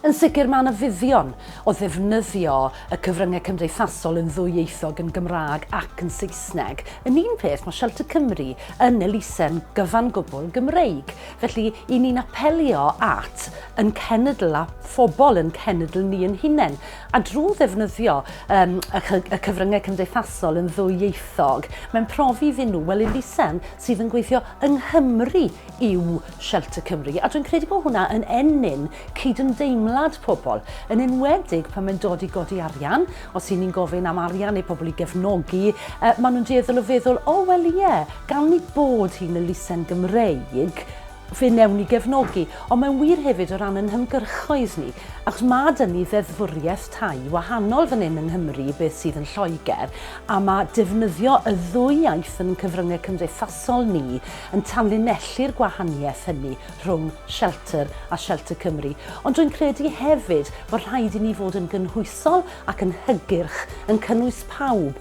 Yn sicr mae yna fuddion o ddefnyddio y cyfryngau cymdeithasol yn ddwyieithog yn Gymraeg ac yn Saesneg. Yn un peth, mae Shelter Cymru yn elusen gyfan gwbl Gymreig, felly i ni'n apelio at yn cenedl a phobl yn cenedl ni yn hunain, a drwy ddefnyddio um, y cyfryngau cymdeithasol yn ddwyieithog, mae'n profi iddyn nhw, wel elusen sydd yn gweithio yng Nghymru yw Shelter Cymru, a dwi'n credu bod hwnna yn ennyn cydymdeimlad pobl, yn enwedig pan mae'n dod i godi arian, os y'n ni'n gofyn am arian neu pobl i gefnogi, uh, maen nhw'n dueddol o feddwl, o oh, wel ie, yeah, gan ni bod hi'n elusen Gymreig, fe newn ni gefnogi, ond mae'n wir hefyd o ran yn hymgyrchoedd ni, achos mae dyn ni ddeddfwriaeth tai wahanol fan hyn yng Nghymru beth sydd yn Lloegr, a mae defnyddio y ddwy iaith yn cyfryngau cymdeithasol cymdeithasol ni yn tanlinellu'r gwahaniaeth hynny rhwng Shelter a Shelter Cymru, ond rwy'n credu hefyd bod rhaid i ni fod yn gynhwysol ac yn hygyrch, yn cynnwys pawb,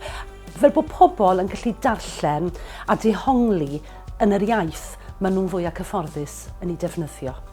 fel bod pobl yn gallu darllen a dehongli yn yr iaith maen nhw'n fwyaf cyfforddus yn ei defnyddio.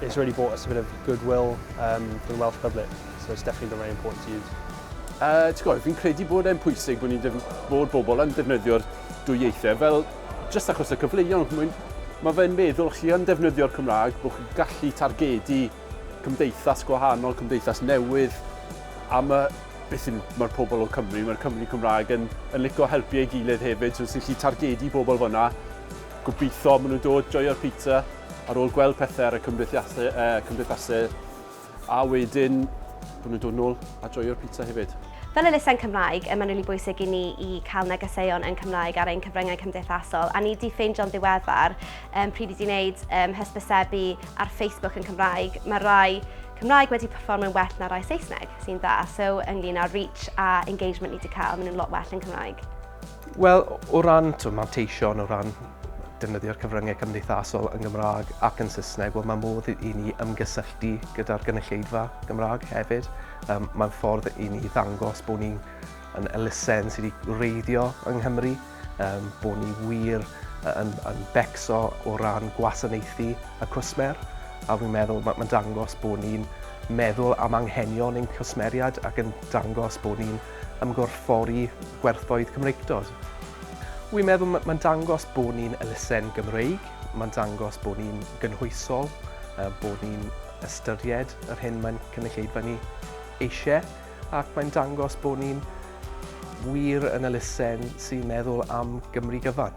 It's really brought us a bit of goodwill um, for the Welsh public, so it's definitely been very important to use. Uh, ti'n gwybod, fi'n credu bod e'n pwysig bod ni'n bod bobl yn defnyddio'r dwy ieithau, fel jyst achos y cyfleuon. Mae fe'n meddwl chi yn defnyddio'r Cymraeg, bod chi'n gallu targedu cymdeithas gwahanol, cymdeithas newydd, a mae beth yw'n mae'r pobl o Cymru, mae'r Cymru Cymraeg yn, yn licio helpu ei gilydd hefyd, so sy'n lli targedu bobl fyna. Gobeithio maen nhw'n dod, joio'r pizza, ar ôl gweld pethau ar y cymdeithasau, uh, cymdeithasau a wedyn bod nhw'n dod nôl a joio'r pizza hefyd. Fel elusen Cymraeg, y mae'n rili bwysig i ni i cael negeseuon yn Cymraeg ar ein cyfryngau cymdeithasol, a ni di ffeindio'n ddiweddar um, pryd i di wneud um, hysbysebu ar Facebook yn Cymraeg. Mae rai Cymraeg wedi performio'n well na rai Saesneg, sy'n dda. So, ynglyn â reach a engagement ni wedi cael, maen nhw'n lot well yn Cymraeg. Wel, o ran t'o' manteision, o ran defnyddio'r cyfryngau cymdeithasol yn Gymraeg ac yn Saesneg, wel mae modd i ni ymgysylltu gyda'r gynulleidfa Gymraeg hefyd. Yym mae'n ffordd i ni ddangos bod ni yn elusen sydd wedi gwreiddio yng Nghymru, yym bod ni wir yn yn becso o ran gwasanaethu y cwsmer, a fi'n meddwl ma' mae'n dangos bod ni'n meddwl am anghenion ein cwsmeriaid ac yn dangos bod ni'n ymgorffori gwerthoedd Cymreictod. Wi'n meddwl mae'n dangos bod ni'n elusen Gymreig, mae'n dangos bod ni'n gynhwysol, bod ni'n ystyried yr hyn mae'n cynulleidfa ni eisiau, ac mae'n dangos bod ni'n wir yn elusen sy'n meddwl am Gymru gyfan.